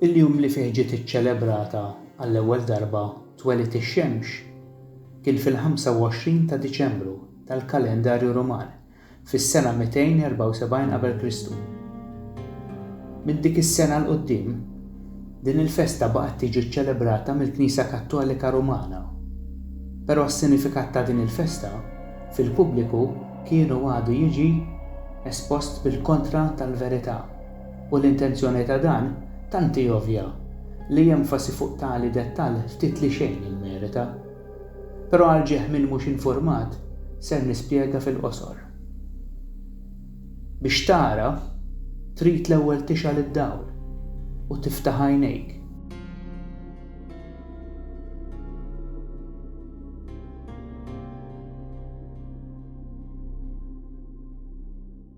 Il-jum li fih ġiet iċċelebrata għall-ewwel darba twelid ix-xemx kien fil-25 ta' Diċembru tal-kalendarju Ruman, fis-sena 274 qabel Kristu. Minn dik is-sena 'l quddiem, din il-festa baqgħet tiġi ċċelebrata mill-Knisja Kattolika Rumana. Però s-sinifikat ta' din il-festa fil-pubbliku kien u għadu jiġi espost bil-kontra tal-verità. U l-intenzjoni ta' dan tant hi ovvja li enfasi fuq tali dettall ftit li xejn jimmerita. Però għal ġieħ min mhux infurmat, ser nispjega fil-qosor. Biex tara, trid l-ewwel tixgħal id-dawl u tiftaħ għajnejk.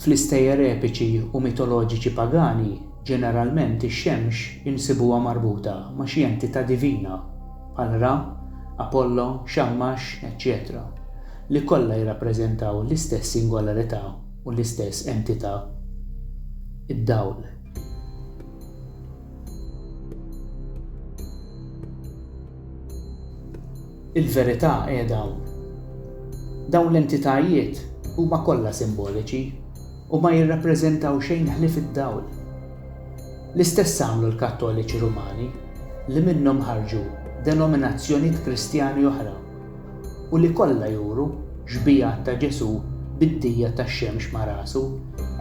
Fl-istejjer epiċi u mitoloġiċi pagani, ġeneralment ix-xemx insibuha marbuta ma' xi entità divina, bħal Ra, Apollo, Xammax, eċċetera li kollha jirrappreżentaw l-istess singolarità u l-istess entità, id-dawl. Il-verità qiegħda hawn. Dawn l-entitajiet huma kollha simboliċi u ma jirrappreżentaw xejn ħlief id-dawl. L-istess għamlu l-Kattoliċi Rumani li minnhom ħarġu denominazzjoniet Kristjani oħra. u li kollha juru xbigħat ta' Ġesù bid-dija tax-xemx ma' rasu,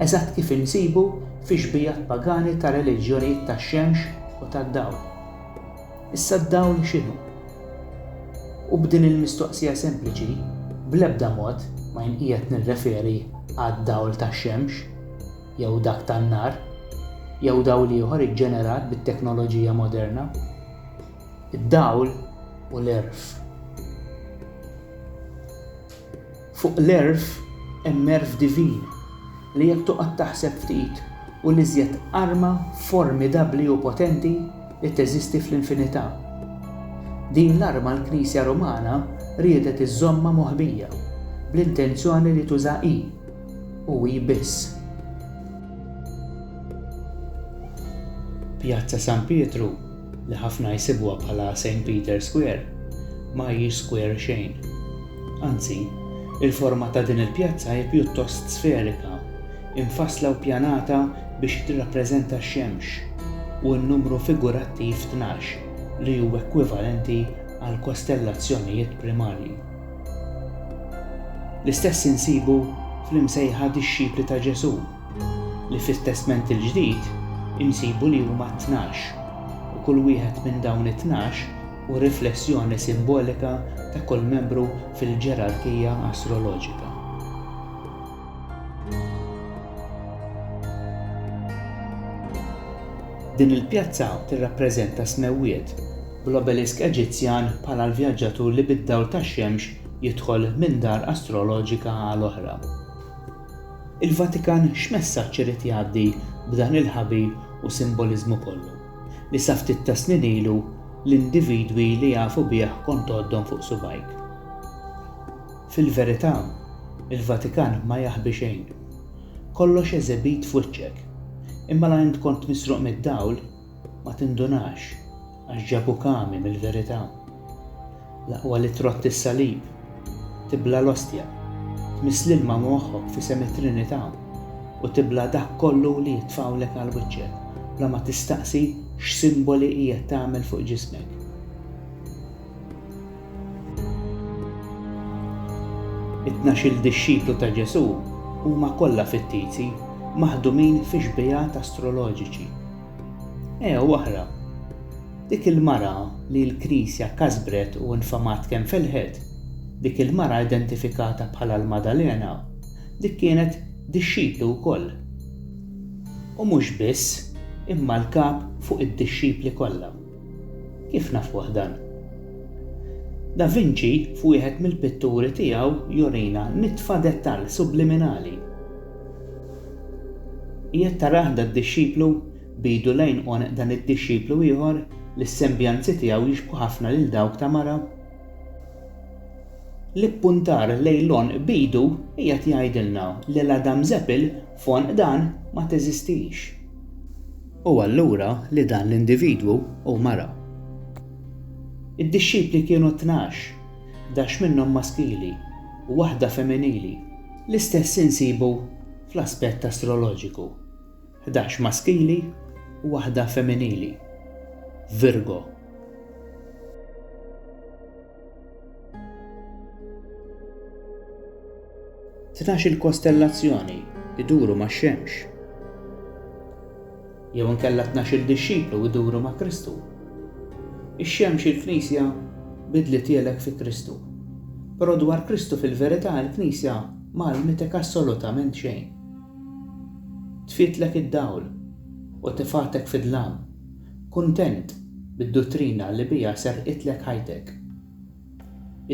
eżatt kif insibu fix-xbigħat pagani ta' reliġjonijiet tax-xemx u tad-dawl. Issa d-dawl x'inhu? U b'din il-mistoqsija sempliċi, bl-ebda mod ma jien qiegħed nirreferi għad-dawl tax-xemx, jew dak tan-nar, jew dawl ieħor iġġenerat bit-teknoloġija moderna. id-dawl u l-għerf. Fuq l-għerf hemm għerf divin li jekk toqgħod taħseb ftit hu l-iżjed arma formidabbli u potenti li teżisti fl-infinità. Din l-arma l-Knisja Rumana riedet iżżommha moħbija bl-intenzjoni li tuża hi, u hi biss. Pjazza San Pietru li ħafna jsibuha bħala St. Peter's Square, ma hijiex square xejn. Anzi, il-forma ta' din il-pjazza hi pjuttost sferika, imfassla u ppjanata biex tirrappreżenta x-xemx u n-numru figurattiv tnax li hu ekwivalenti għall-kostellazzjonijiet primarji. L-istess insibu fl-imsejħa Dixxipli ta' Ġesù, li fit-Testment il-Ġdid insibu li huma tnax, u kull wieħed minn dawn it-tnax hu riflessjoni simbolika ta' kull membru fil-ġerarkija astroloġika. Din il-pjazza tirrappreżenta s-smewwiet, bl-obelisk Eġizzjan bħala l-vjaġġatur li bid-dawl tax-xemx jidħol minn dar astroloġika għal oħra. Il-Vatikan x'messaġġ irid jgħaddi b'dan il-ħabil u simboliżmu kollu, li sa ftit tas-snin ilu l-individwi li jafu bih kont tgħoddhom fuq subgħajk? Fil-verità, il-Vatikan ma jaħbi xejn. Kollox eżibit f'wiċċek. Imma la int kont misruq mid-dawl, Ma tindunax, għax ġabuk għami mill-verità. L-aqwa li trott is-salib, tibla' l-ostja, tmiss l-ilma moħħok f'isem it-Trinità u tibla' dak kollu li jitfgħulek għal wiċċek bla ma tistaqsi x'simboli qiegħed tagħmel fuq ġismek. It-tnax-il dixxiplu ta' Ġesù huma kollha fittizi, maħdumin fi xbiehat astroloġiċi. Ew oħra, dik il-mara li l-Knisja kasbret u infamat kemm felħet, dik il-mara identifikata bħala l-Maddalena, dik kienet dixxiplu wkoll. U mhux biss, imma l-kap fuq id-dixxipli kollha. Kif nafuh dan? Da Vinci f'wieħed mill-pitturi tiegħu jurina nitfa dettal subliminali. Qiegħed tarah da dixxiplu, b'idu lejn għonq dan id-dixxiplu ieħor li s-sembjanzi tiegħu jixbħu ħafna lil dawk ta' mara? L-ippuntar lejn l-għonq b'idu qiegħed jgħidilna li l-Adam Seppel f'għonq dan ma teżistix. u allura li dan l-individwu hu mara. Id-dixxipli kienu tnax, dax minnhom maskili u waħda femminili. L-istess insibu fl-aspett astroloġiku, ħdax maskili u waħda femminili, Virgo. Tnax il-kostellazzjoni iduru ma' xemx. Jew inkella tnax il-dixxiplu iduru ma' Kristu. Ix-xemx il-Knisja bidli tielek fi Kristu. Però dwar Kristu fil-verità il-Knisja ma għallmitek assolutament xejn. Tfietlek id-dawl u tifgħatek fid-dlam Kuntent bid-duttrina li biha serqitlek ħajtek.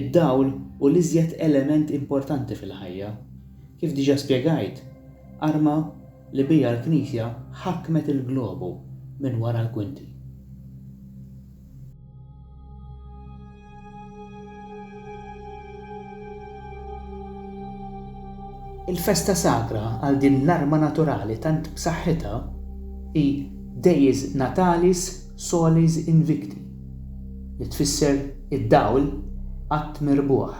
Id-dawl hu l-iżjed element importanti fil-ħajja. Kif diġà spjegajt, arma li biha l-Knisja ħakmet il-globu minn wara l-kwinti. Il-festa sagra għal din l-arma naturali tant b'saħħitha hi Deiz Natalis Solis Invicti, li tfisser Id-Dawl Qatt Mirbuħ.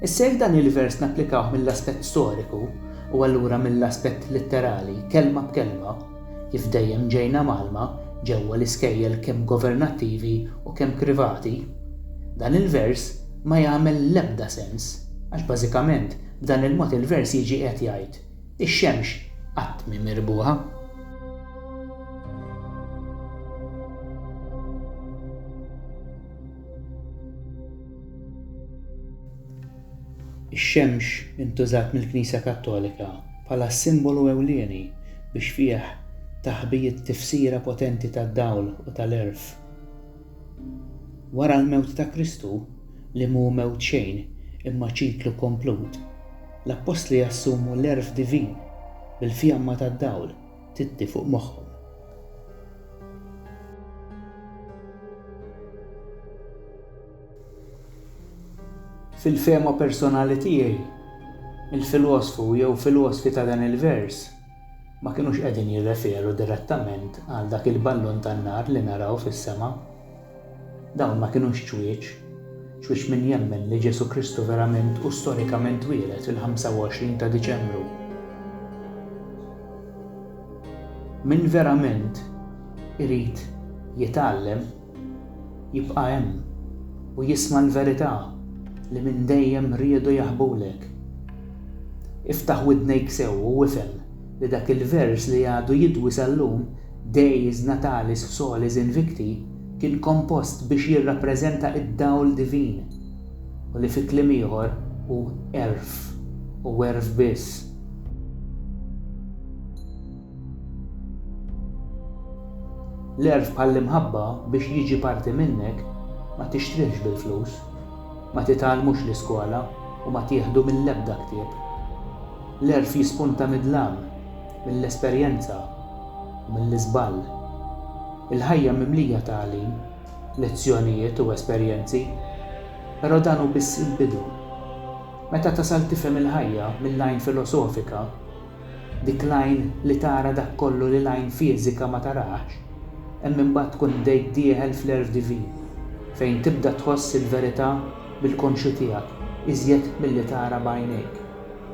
Issa jekk dan il-vers napplikawh mill-aspett storiku u allura mill-aspett litterali, kelma b'kelma, Kif dejjem ġejna mgħallma ġewwa l-iskejjel kemm governattivi u kemm krivati, dan il-vers ma jagħmel l-ebda sens għax bażikament b'dan il-mod il-vers jiġi qiegħed jgħid, ix-xemx qatt mhi mirbuħa. Ix-xemx intużat mill-Knisja Kattolika bħala s-simbolu ewlieni biex fih taħbiet tifsira potenti tad-dawl u tal-għerf. Wara l-mewt ta' Kristu, li mhu mewt xejn imma ċiklu komplut, l-appostli jassumu l-għerf divin bil-fjamma tad-dawl titti fuq moħħhom. Fil-fehma personali tiegħi, il-filosfu jew filosfi ta' dan il-vers ma kinux qegħdin jirreferu direttament għal dak il-ballun tan-nar li naraw fis-sema. Dawn ma kinux ċwieċ. Ċwieċ min jemmen li Ġesù Kristu verament u storikament twieled fil-25 ta' Diċembru. Min verament irid jitgħallem, Jibqa' hemm u jisma' l-verità li minn dejjem riedu jaħbulek. Iftaħ widnejk sew u ifhem li dak il-vers li għadu jidwi sal-lum, Deis natalis solis invicti, kien kompost biex jirrappreżenta d-dawl divin u li fi kliem ieħor hu għerf u għerf biss. L-għerf bħall-imħabba biex jiġi parti minnek ma tixtrihx bil-flus, ma titgħallmux l-iskola u ma tieħdu mill-ebda ktieb. L-għerf jispunta mid-dlam, mill-esperjenza u mill-iżball. Il-ħajja mimlija tagħlim, lezzjonijiet u esperjenzi, però dan hu biss il-bidu. Meta tasal tifhem il-ħajja mill-għajn filosofika, Dik l-għajn li tara dak kollu li l-għajn fiżika ma tarax, hemm imbagħad tkun bdejt dieħel fl-għerf divin, fejn tibda tħoss il-verità bil-konxju tiegħek iżjed milli tara b'għajnejk,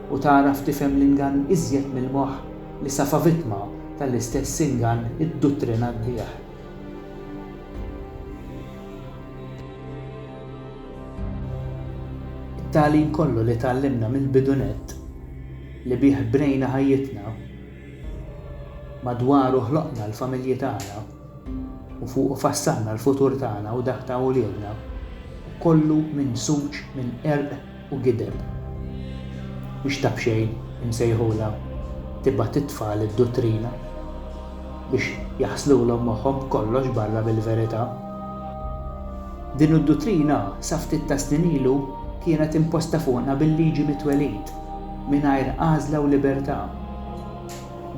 u tagħraf tifhem l-ingann iżjed mill-moħħ li safa vittma tal-istess ingann idduttrinat bih. It-tagħlim kollu li tgħallimna mill-bidunett. li bih bnejna ħajjitna, madwaru ħloqna l-familji tagħna u fuqu fassalna l-futur tagħna u dak ta' uliedna, kollu minsuġ minn qerq u gideb. Biex ta' b'xejn imsejħulha tibgħat it-tfal id-duttrina biex jaħslulhom moħħhom b'kollox barra mill-verità. Din id-duttrina sa ftit tas-snin ilu kienet imposta fuqna bil-liġi mit-twelid. mingħajr għażla u libertà.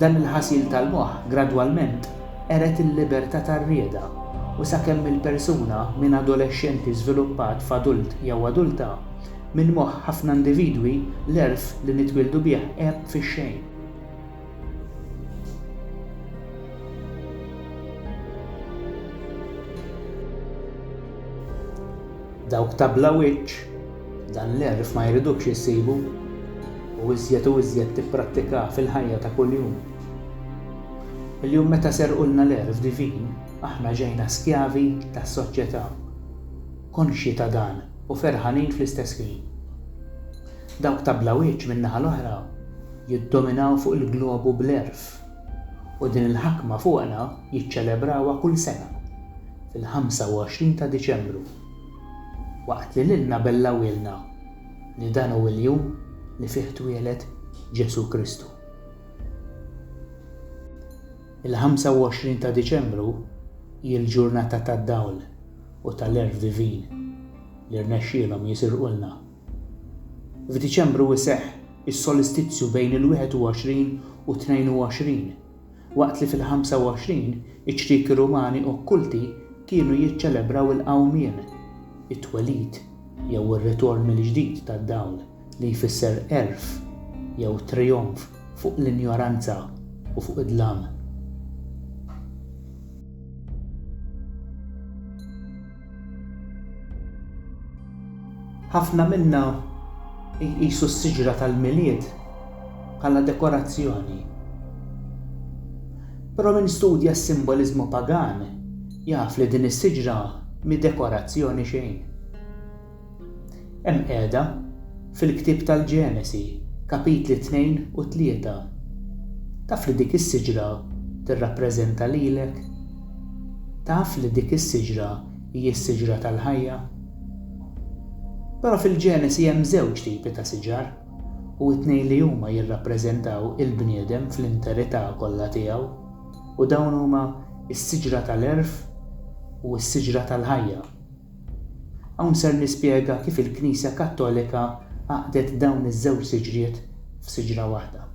Dan il-ħasil tal-moħħ gradwalment qered il-libertà tar-rieda u sakemm il-persuna minn adolexxenti żviluppat f'adult jew adulta, minn moħħ ħafna individwi l-għerf li nitwieldu bih għeb fix-xejn. Dawk ta' bla wiċċ. Dan l-għerf ma jridukx issibu u iżjed u iżjed tipprattikah fil-ħajja ta' kuljum. Illum meta serqulna l-għerf divin, aħna ġejna skjavi tas-soċjetà. Konxji ta' dan u ferħanin fl-istess ħin. Dawk ta' bla wiċċ min-naħa l-oħra jiddominaw fuq il-globu bl-għerf u din il-ħakma fuqna jiċċelebrawha kull sena fil-25 ta' Diċembru. Waqt li lilna bellgħuhielna li dan hu l-jum li fih twieled Ġesù Kristu. Il-25 ta' Diċembru hi l-ġurnata tad-dawl u tal-għerf divin li rnexxielhom jisirqulna. F'Diċembru jseħħ is-solistizju bejn il-21 u 22 waqt li fil-25 iċ-ċrieki Rumani okkulti kienu jiċċelebraw il-qawmien, it-twelid jew ir-ritorn mill-ġdid tad-dawl li jfisser għerf jew trijonf fuq l-injoranza u fuq id-dlam. Ħafna minna jqisu s-siġra tal-Milied bħala dekorazzjoni. Però min studja s-simboliżmu pagan jaf li din is-siġra mhi dekorazzjoni xejn. Hemm qiegħda fil-ktieb tal-Ġenesi, kapitli tnejn u tlieta. Taf li dik is-siġra tirrappreżenta lilek? Taf li dik is-siġra hi s-siġra tal-ħajja? Però fil-Ġenesi hemm żewġ tipi ta' siġar, u t-tnejn li huma jirrappreżentaw il-bniedem fl-interità kollha tiegħu, u dawn huma s-siġra tal-għerf u s-siġra tal-ħajja. Hawn ser nispjega kif il-Knisja Kattolika għaqdet dawn iż-żewġ siġriet f'siġra waħda.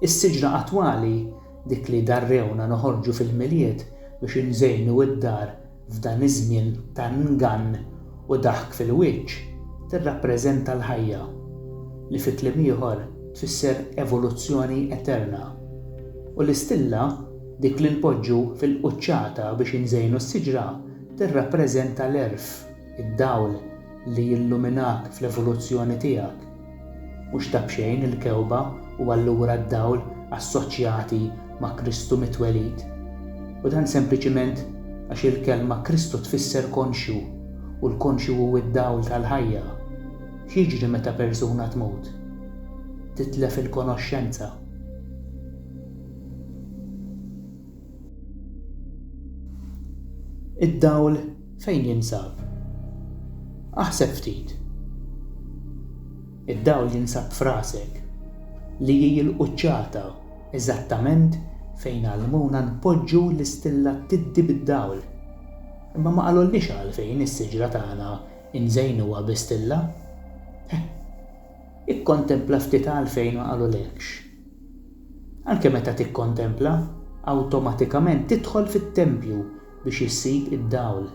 Is-siġra attwali, dik li darrewna noħorġu fil-Milied biex inżejnu d-dar F'dan iż-żmien ta' ngann u daħk fil-wiċċ, tirrappreżenta l-ħajja, li fi kliem ieħor tfisser evoluzzjoni eterna. U l-istilla, dik li npoġġu fil-quċċata biex inżejnu s-siġra, tirrappreżenta l-għerf, id-dawl li jilluminak fl-evoluzzjoni tiegħek. Mhux ta' b'xejn il-kewba u allura d-dawl assoċjati ma' Kristu mitwelid, u dan sempliċiment għax il-kelma Kristu tfisser konxju, u l-konxju hu d-dawl tal-ħajja. X'jiġri meta persuna tmut? Titlef il-konoxxenza. Id-dawl fejn jinsab? Aħseb ftit. Id-dawl jinsab f'rasek, li hi l-quċċata eżattament fejn għallmuna npoġġu l-istilla tiddi bid-dawl. Imma ma qalulniex għalfejn is-siġra tagħna nżejnuha bi stilla? Eħ, ikkontempla ftit għalfejn ma qalulekx. Anke meta tikkontempla, awtomatikament tidħol fit-tempju biex issib id-dawl.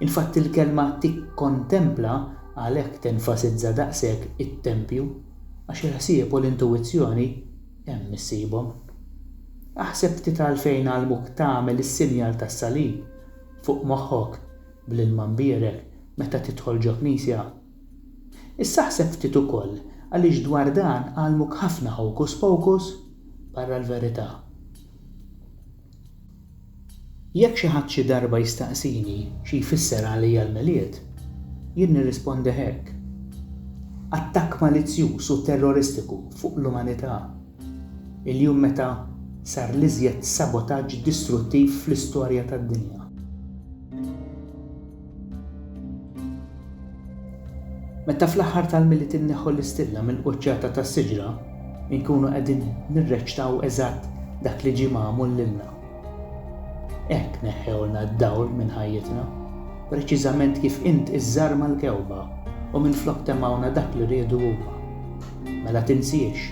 Infatti l-kelma tikkontempla għalhekk tenfasizza daqshekk it-tempju, għax il-ħsieb u l-intuwizzjoni hemm issibhom. Aħseb ftit għalfejn għallmuk tagħmel is-sinjal tas-salib fuq moħħok bl-ilma mbierek meta tidħol ġo knisja. Issa ħseb ftit ukoll għaliex dwar dan għallmuk ħafna hocus pocus barra l-verità. Jekk xi ħadd xi darba jistaqsini xi jfisser għalija l-Milied, jien nirrispondi hekk, attakk malizzjuż u terroristiku fuq l-umanità, il-jum meta sar l-iżjed sabotaġġ distruttiv fl-istorja tad-dinja. Meta fl-aħħar tal-Milied inneħħu l-istilla mill-quċċata tas-siġra, inkunu qegħdin nirreċtaw eżatt dak li ġie magħmul lilna. Hekk neħħewlna d-dawl minn ħajjitna, preċiżament kif int iżżarma l-kewba u minflok temmgħuna dak li riedu huma. Mela tinsiex,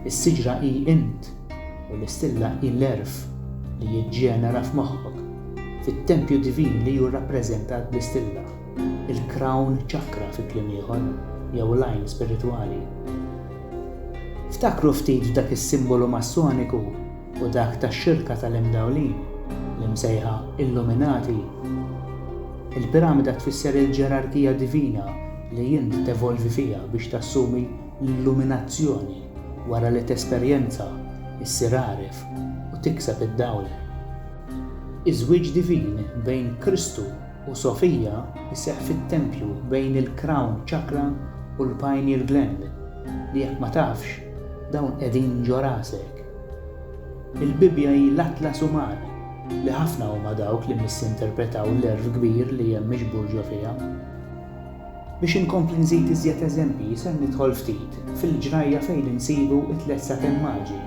is-siġra hi int! u l-istilla hi l-għerf li jiġġenera f'moħħok, fit-tempju divin li hu rrappreżentat bl-istilla, il-crown chakra fi kliem ieħor, jew l-għajn spiritwali. Ftakru ftit f'dak is-simbolu Massoniku u dak tax-xirka tal-Imdawlin, l-imsejħa Illuminati. Il-piramida tfisser il-ġerarkija divina li int tevolvi fiha biex tassumi l-illuminazzjoni. Wara li tesperjenza, issir għaref u tikseb id-dawl. Iż-żwieġ divin bejn Kristu u Sofia jseħħ fit-tempju bejn il-Crown Chakra u l-Pineal Gland, li jekk ma tafx, dawn qegħdin ġo rasek. Il-Bibbja hi l-atlas uman, li ħafna huma dawk li misinterpretaw l-għerf kbir li hemm miġbur ġo fiha. Biex inkompli nżid iżjed eżempji ser nidħol ftit fil-ġrajja fejn insibu t-tliet sakemm maġi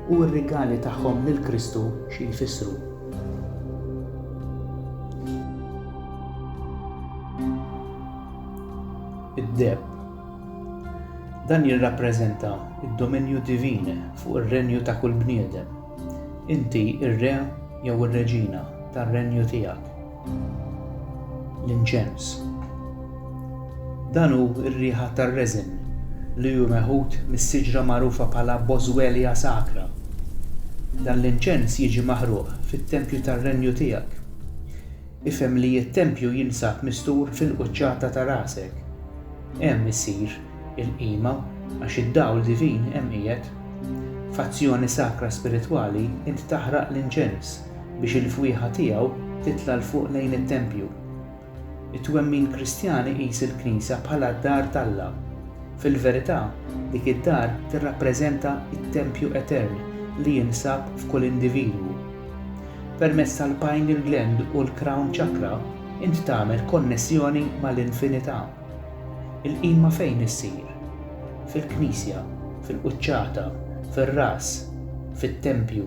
u r-rigali tagħhom lil Kristu xi jfissru. Id-deheb. Dan jirrappreżenta d-dominju divin fuq ir-renju ta' kull bniedem. Inti r-re jew ir-reġina tar-renju tiegħek. L-inċens. Dan hu r-riħa tar-reżen li hu meħud mis-siġra magħrufa bħala Boswellia sacra. Dan l-inċens jiġi maħruq fit-tempju tar-renju tiegħek. Ifhem li t-tempju jinsab mistur fil-quċċata ta' rasek. Hemm issir il-qima għax id-dawl divin hemm qiegħed. F'azzjoni sakra spiritwali int taħraq l-inċens. biex il-fwieħa tiegħu titla' 'l fuq lejn it-tempju. It-twemmin Kristjan iqis il-Knisja bħala d-dar t'Alla. Fil-verità, dik id-dar tirrappreżenta t-tempju etern li jinsab f'kull individwu. Permezz tal-pineal gland u l-crown chakra int tagħmel konnessjoni mal-infinità. Il-qima fejn issir? Fil-Knisja, fil-quċċata, fir-ras, fit-tempju.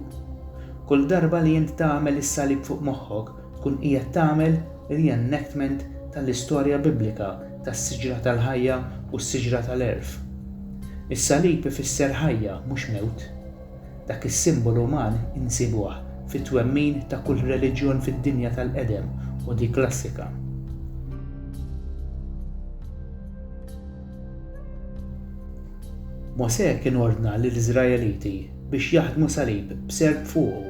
Kull darba li int tagħmel is-salib fuq moħħok, tkun qiegħed tagħmel re-enactment tal-istorja Biblika tas-siġra tal-ħajja u s-siġra tal-għerf. Is-salib ifisser ħajja, mhux mewt. Dak is-simbolu uman insibuh fit-twemmin ta' kull reliġjon fid-dinja tal-qedem u dik klassika. Mosè kien ordna lill-Iżraeliti biex jaħdmu salib b'serp fuqu,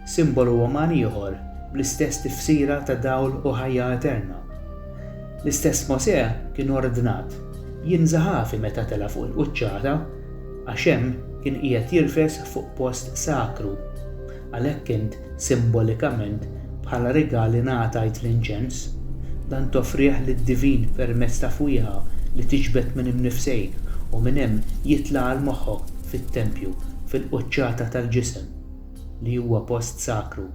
simbolu uman ieħor bl-istess tifsira ta' dawl u ħajja eterna. L-istess Mosè kien ordnat jinża' ħafi meta tela' fuq il-quċċata, għax hemm kien qiegħed jirfes fuq post sakru. Għalhekk int, simbolikament, bħala rigal ingħatajt l-inċens. Dan toffrih lid-divin permezz ta' fwieħa li tiġbed minn imnifsejk u minn hemm jitla' għal moħħok fit-tempju, fil-quċċata tal-ġisem, li huwa post sakru.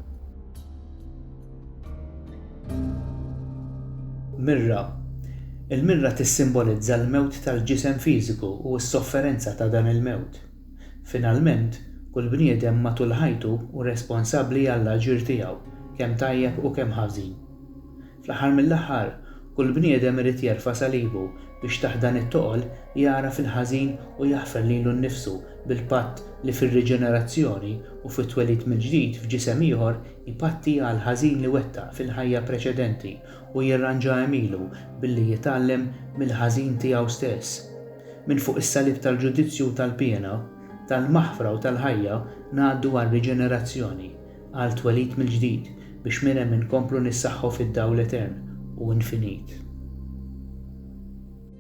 Mirra, Il-mirra tissimbolizza l-mewt tal-ġisem fiżiku u s-sofferenza ta' dan il-mewt. Finalment, kull bniedem matul ħajtu hu responsabbli għall-aġir tiegħu, kemm tajjeb u kemm ħażin. Fl-aħħar mill-aħħar, kull bniedem irid jerfa' salibu biex taħt dan it-toqol jagħraf il-ħażin u jaħfer lilu nnifsu bil-patt li fir-riġenerazzjoni u fit-twelid mill-ġdid f'ġisem ieħor ipatti għall-ħażin li wettaq fil-ħajja preċedenti u jirranġa għemilu billi jitgħallem mill-ħażin tiegħu stess. Minn fuq is-salib tal-ġudizzju u tal-piena, tal-maħfra u tal-ħajja ngħaddu għar-riġenerazzjoni, għal twelid mill-ġdid biex minn hemm inkomplu nissaħħu fid-dawl etern u infinit.